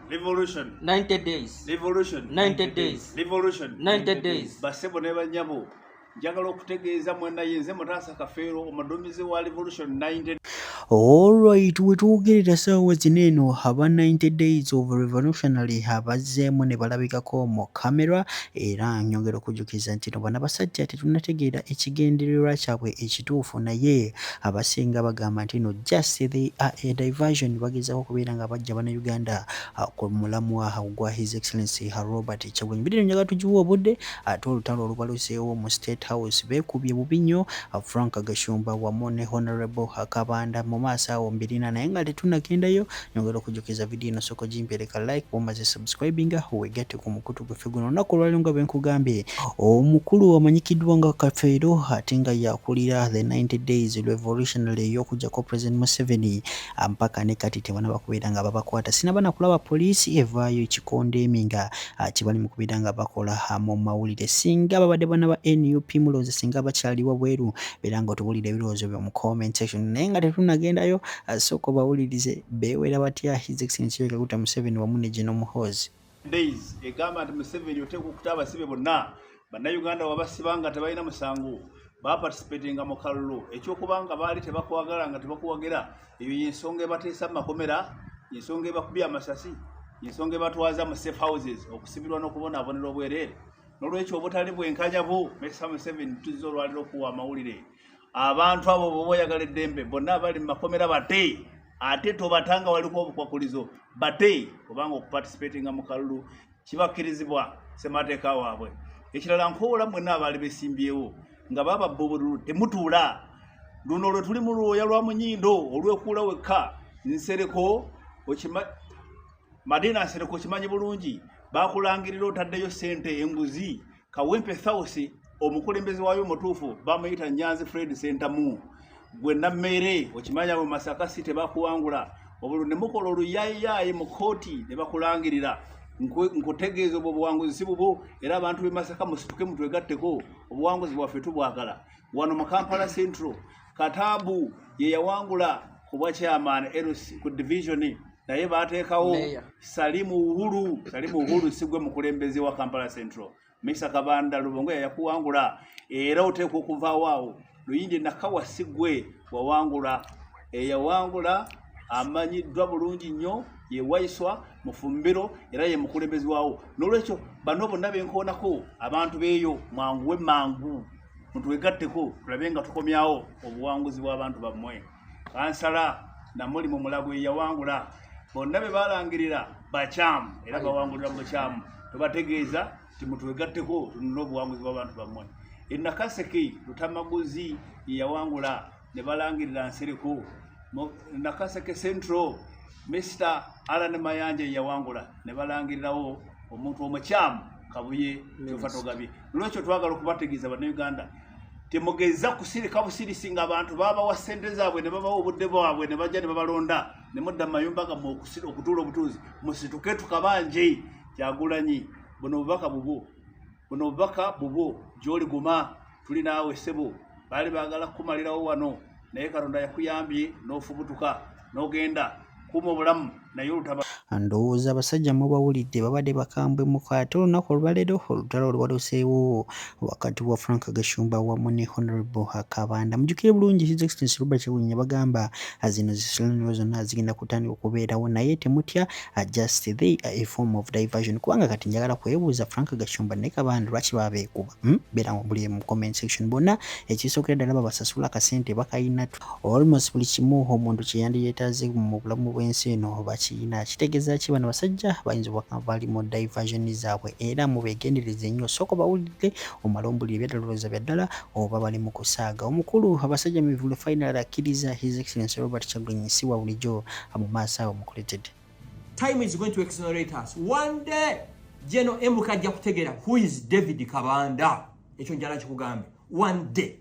Revolution. 90 days. Revolution. 90 days. Revolution. 90 days. Basebo ne banyabo. Njagala okutegeeza mwana yenze mutaasa kafeero omudumizi wa Revolution 90. Alright, wetuwogerera saawa zino eno aba 90 days of revolutionary abazzeemu ne balabikako mu kamera era nyongera okujjukiza nti no bano abasajja tetunategeera ekigendererwa kyabwe ekituufu naye abasinga bagamba nti no just they are a diversion bagezaako okubeera nga bajja bannayuganda ah, ku mulamwa gwa his excellency robert kyagwenyi bidino njaga tugiwa obudde ate olutalo olubaluseewo mu state house beekubye bubi nnyo ah, frank gashumba wamu ne honorable kabanda mu maaso awo mbirina naye nga tetunagendayo Nyongera okujukiza video eno soko jimpereka like omaze subscribing aho wegate ku mukutu gwe feguno na kulwali nga benkugambye omukulu amanyikidwa nga kafeero atenga yakulira the 90 days revolutionary yokuja ko president Museveni ampaka ne kati tebana bakubira nga babakwata sina bana kulaba police evayo kikonde eminga akibali mukubira nga bakola hamo mawulire singa babade bana ba NUP muloze singa bakyali wabweru biranga otubulire birozo byo mu comment section nenga tetunagendayo Asooka obawulirize beewera batya His Excellency Yoweri Kaguta Museveni wamu ne General Muhoozi. Days egamba nti Museveni oteeka okuta abasibe bonna bannayuganda wabasiba nga tebalina musango baparticipatinga mu kalulu ekyokuba nga baali tebakwagala nga tebakuwagira eyo yensonga ebateesa mu makomera yensonga ebakubya amasasi yensonga ebatwaza mu safe houses okusibirwa n'okubonabonera obwereere n'olwekyo obutali bwenkanya bu mesa Museveni tuzza olwaliro okuwa amawulire abantu abo boba oyagala eddembe bonna abali mumakomera bate ate tobatanga waliko obukwakulizo bate obanga okupatisipatinga mu kalulu kibakkirizibwa semateeka waabwe ekirala nkoola mwenna abaali besimbyewo nga bababba obululu temutuula luno lwe tuli mu lwoya lwa munyindo olwekuula wekka nsereko madiina nsereko okimanyi bulungi bakulangirira otaddeyo sente enguzi kawempe thausi omukulembeze wayo omutuufu bamuyita nyanzi fred sentamu gwe nammere okimanya mu masaka si tebakuwangula obululu ne mukola oluyayiyaayi mu kooti ne bakulangirira nkutegeeza obwo obuwanguzi si bubwo era abantu b'e masaka musituke mutwegatteko obuwanguzi bwaffe tubwagala wano mu kampala central katabu yeyawangula kubwa chairman LC ku division naye bateekawo salimu uhuru salimu uhuru sigwe mukulembeze wa kampala central misa kabanda lubongo yayakuwangula era oteekwa okuvaawo awo luyindi nakawa sigwe wawangula eyawangula amanyiddwa bulungi nnyo yewaiswa mufumbiro era ye mukulembezi waawo n'olwekyo bano bonna benkoonako abantu beeyo mwanguwe mangu mutwegatteko tulabe nga tukomyawo obuwanguzi bw'abantu bammwe kansala namuli mu mulago eyawangula bonna be balangirira bakyamu era bawangulira mu bukyamu tubategeeza nti mutwegatteko tunule obuwanguzi bw'abantu bammwe enakaseke lutamaguzi yeyawangula ne balangirira nsereko nakaseke central mr alan mayanja eyawangula ne balangirirawo omuntu omukyamu kabuye kyova togabye nolwekyo twagala okubategeeza banauganda temugeza kusirika busirisi nga abantu babawa sente zaabwe ne babawa obudde bwabwe ne bajja ne babalonda ne mudda mu mayumba gammwe okutuula obutuuzi musituke tukabanje kyagulanyi buno obubaka bubwo buno obubaka bubwo gyoli guma tuli naawe sebo baali baagala kukumalirawo wano naye katonda yakuyambye n'ofubutuka n'ogenda kuuma obulamu naye olutaba ndowooza abasajja mubawulidde babadde bakambwe muko ate olunaku olwaleero olutalo olubaluseewo wakati wa frank gashumba wamu ne honorable akabanda mujukire bulungi his extence robert kyagulanyi yabagamba zino zisalaniro zonna zigenda kutandika okubeerawo naye temutya just they a form of diversion kubanga kati njagala kwebuuza frank gashumba ne kabanda lwaki babeekuba Hmm? beera buli mu comment section bonna ekisokera ddala babasasula kasente bakayina almost buli kimu omuntu kyeyandiyetaaze mu bulamu bw'ensi eno bakiyina kitegeeza ki bano basajja bayinza obubaka bali mu diversion zaabwe era mubegendereze nnyo sooka bawulidde omala ombulire byadalowooza bya ddala oba bali mu kusaaga omukulu abasajja mivule final akkiriza his excellence robert kyagulanyi si wa bulijjo mu maaso awo mukuletedde time is going to exonerate us one day jeno emuka ajja kutegera who is david kabanda ekyo njala kikugambe one day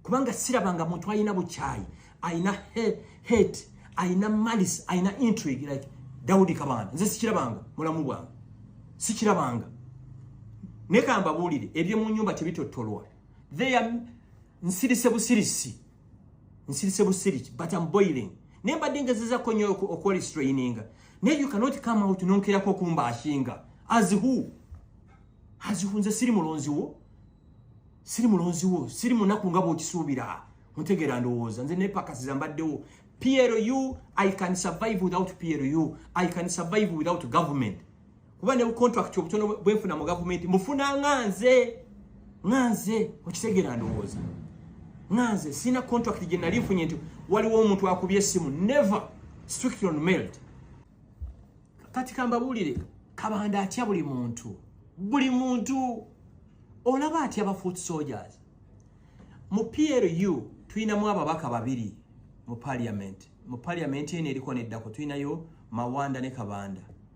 kubanga sirabanga muntu alina bukyayi alina hate alina malice alina intrigue like daudi kabanda nze sikirabanga mulamu bwange sikirabanga naye kambabuulire ebyomu nyumba tebitottolwa theya nsirise busirisi nsirise busiriki but am boiling naye mbadde ngezezako nyo okwerestraininga naye you cannot come out nonkerako okumba ashinga as who as who nze siri mulonzi wo siri mulonzi wo siri munaku nga bwokisuubira mutegeera ndowooza nze nepakasiza mbaddewo plu i can survive without plu i can survive without government kuba ne contract obutono bwefuna mu government mufuna nganze nganze okitegera ndowooza nganze sina contract gye nali nfunye nti waliwo omuntu akubye essimu never strictly on mailed kati kambabuulire kabanda atya buli muntu buli muntu olaba atya ba foot soldiers mu plu tulinamu ababaka babiri mu parliament mu parliament eno eriko neddako tulinayo mawanda ne kabanda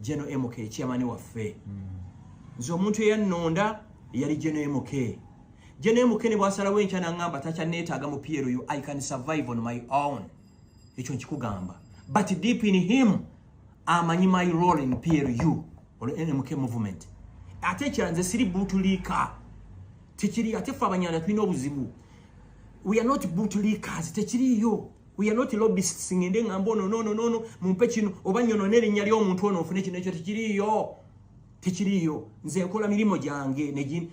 geno mk kyamani waffe nze omuntu eyannonda eyali geno mk geno mk ne bwasalawo enkya nangamba takyanneetaaga mu plu i can survive on my own ekyo nkikugamba but deep in him amanyi my role in plu ol mk movement ate ekira nze siri butuliika tekiri ate fe abanyanda tulina obuzibu we are not butuliikaazi tekiriiyo we are not lobbyists ngende ngamba ono nono nono mumpe kino oba nyono nerinya lyo omuntu ono ofune kino ekyo tekiriyo tekiriyo nze nkola mirimu gyange negi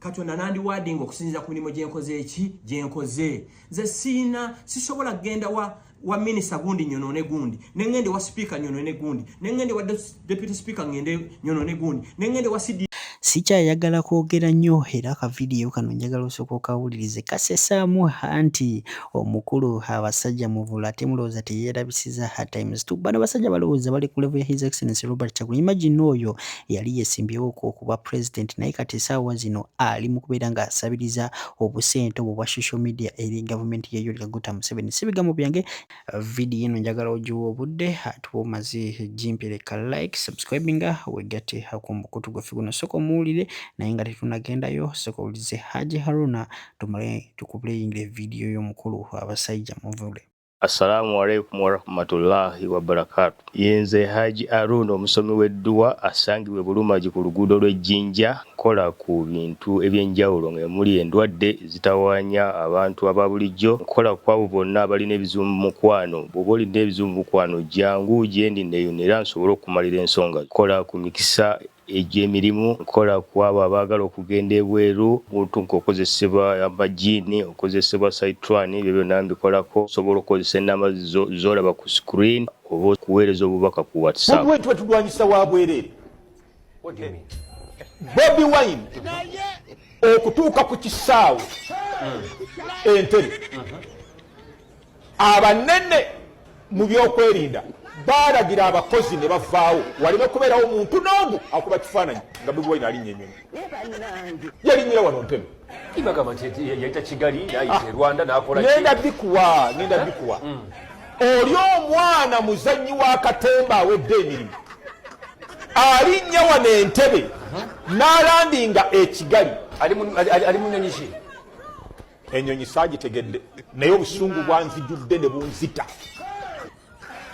katonda nandi wading okusinziza ku mirimu gyenkoze eki gyenkoze nze siina sisobola kugenda wa wa minisa gundi nyono ne gundi nengende wa speaker nyono ne gundi nengende wa deputy speaker ngende nyono ne gundi ne ngende wa CD sikyayagala kwogera nnyo era akavidiyo kano njagala osooka okawulirize kasesaamu hanti omukulu abasajja muvula ate mulowooza teyeerabisiza ha times tu bano basajja balowooza bali ku level ya his excellence robert chagu imagine oyo yali yesimbyewo okuba president naye kati esaawa zino ali mu kubeera ng'asabiriza obusente obwo bwa social media eri gavumenti yeyoleka guta museveni si bigambo byange vidiyo eno njagala ogiwa obudde atuba omaze gimpireka like subscribinga wegatte ku mukutu gwaffe guno soka omuwulire naye nga tetunagendayo soka owulize haji haruna tumale tukubuleyingire vidiyo y'omukulu abasajja muvule assalamu alaikum warahmatullahi wabarakatu Ye nze Haji Aroon omusomi w'edduwa asangibwa e Bulumagi ku luguudo lw'e Jinja. Nkola ku bintu eby'enjawulo nga emuli endwadde ezitawaanya abantu aba bulijjo. Nkola ku abo bonna abalina ebizibu mu mukwano. Bw'oba olina ebizibu mu mukwano jjangu gyendi nneeyunire era nsobole okukumalira ensonga zo. Nkola ku mikisa Eggya emirimu nkola ku abo abaagala okugenda ebweru. Omuntu ng'okozesebwa amajiini, okozesebwa sayitwani, ebyo byonna mbikolako. Osobola okukozesa ennamba zo z'olaba ku screen oba okuweereza obubaka ku WhatsApp. Bobi Wine tuba tulwanyisa wa bwereere. Bobi Wine okutuuka ku kisaawe Entebbe abanene mu byokwerinda baalagira abakozi ne bavaawo waleme kubeerawo muntu n'omu akuba kifaananyi nga bobi wine alinnya enyonyi yalinyira wano ntebe nenda bikuwa nenda bikuwa mm. oli omwana muzannyi wa katemba awedde emirimu alinnya wano entebe n'alandinga ekigali ali munyonyi ki enyonyi sagitegedde naye obusungu bwanzijudde ne bunzita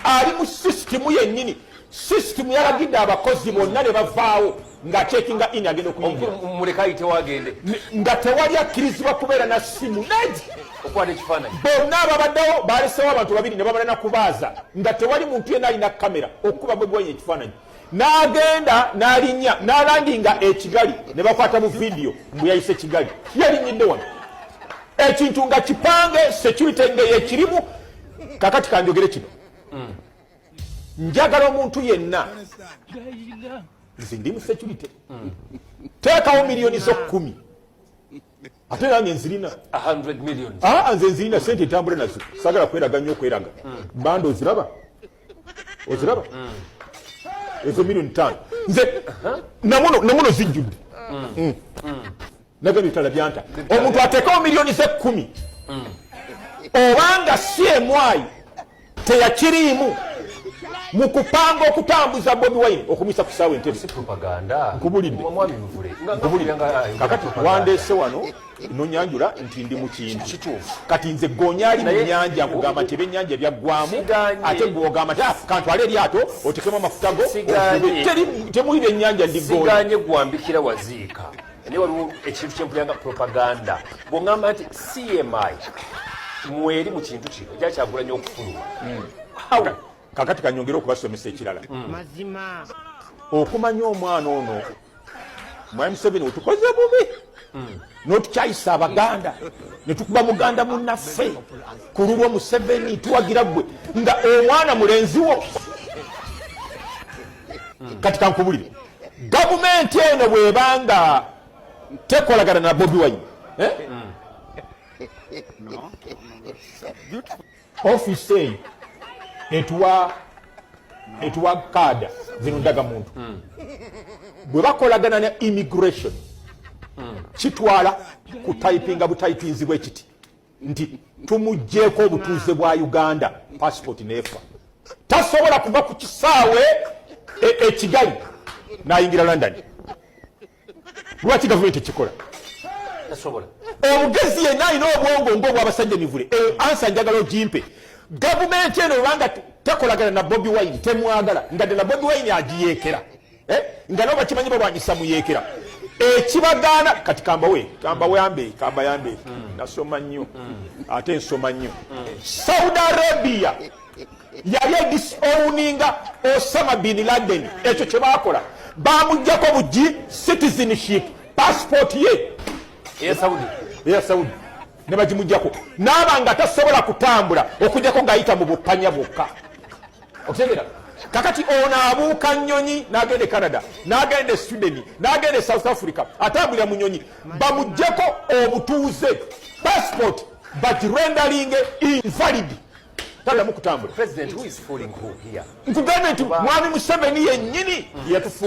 ali mu sisitimu yennyini sisitimu yalagidde abakozi bonna ne bavaawo ng'atekinga in agenda okuyingiramuleka ayitewo agende nga tewali akkirizibwa kubeera na simu ned okwata ekifaananyi bonna ababaddewo baalesewo abantu babiri ne babala na kubaaza nga tewali muntu yenna alina kamera okukuba bwe gwenya ekifaananyi n'agenda n'alinnya n'alandinga ekigali ne bakwata mu vidiyo mbu yayise kigali yalinyidde wano ekintu nga kipange security nga yekirimu kakati kanjogere kino mm. njagala omuntu yenna nze ndi mu security mm. teekawo miliyoni z'okkumi ate nange nzirina aa nze nzirina sente entambula nazo sagala kweraga nnyo okweraga banda oziraba oziraba ezo milioni tano nze namuno zijjudde nagabye bitala byanta omuntu ateekawo milioni zekkumi obanga si emwayi teyakiriimu mu kupanga okutambuza bobi wine okumisa ku saawa entebe nkubulidde kakati wandeese wano nonyanjula nti ndi mukintu kati nze gonya ali munyanja nkugamba nti ebyenyanja byaggwamu ate gwogamba nti ah, kantwale eryato otekemu amafuta go temuli byenyanja ndigonya gwambikira waziika naye waliwo ekintu kyempuliranga propaganda bwongamba nti cmi mweri mu kintu kino ja kyagulanya okufuluma hmm. kakati kanyongere okubasomesa ekirala hmm. mazima okumanya omwana ono mwami museveni wetukoze bubi hmm. notukyayisa abaganda netukuba muganda munaffe ku lulwo museveni tuwagira gwe nga omwana mulenziwo hmm. kati kankubulire gavumenti eno bwebanga tekolagana na bobi wine eh? hmm. ofisi eyo etuwa etuwa kaada zino ndaga muntu hmm. bwe bakolagana ne immigration kitwala kutayipinga butayipinzi bwekiti nti tumuggyeko obutuuze bwa uganda passport nefa tasobola kuva ku kisaawe ekigali e nayingira london lwaki gavumenti ekikola omugezi yenna alina obwongo ngaobwabasajja mivule eyo ansa njagala ogimpe gavumenti eno obanga tekolagana na bobi wine temwagala nga ddala bobi wine agiyekera eh, nga nabo bakimanyi balwanyisa muyeekera ekibagaana eh, kati kambawe kambayambe kambayambe hmm. nasoma nnyo hmm. ate nsoma nnyo hmm. saudi arabia yali edisowuninga osama bin laden ekyo kyebakola bamugjako bugi citizenship passport ye eya saudi eya saudi ne bagimugyako naaba nga tasobola kutambula okujjako ng'ayita mu bupanya bwokka okutegera kakati ono abuuka nyonyi nagenda e canada nagenda e sweden nagenda e south africa atambulira mu nyonyi bamugjeko obutuuze passport but rendering invalid tadamu kutambula nkugambye nti mwami museveni yenyini yatufu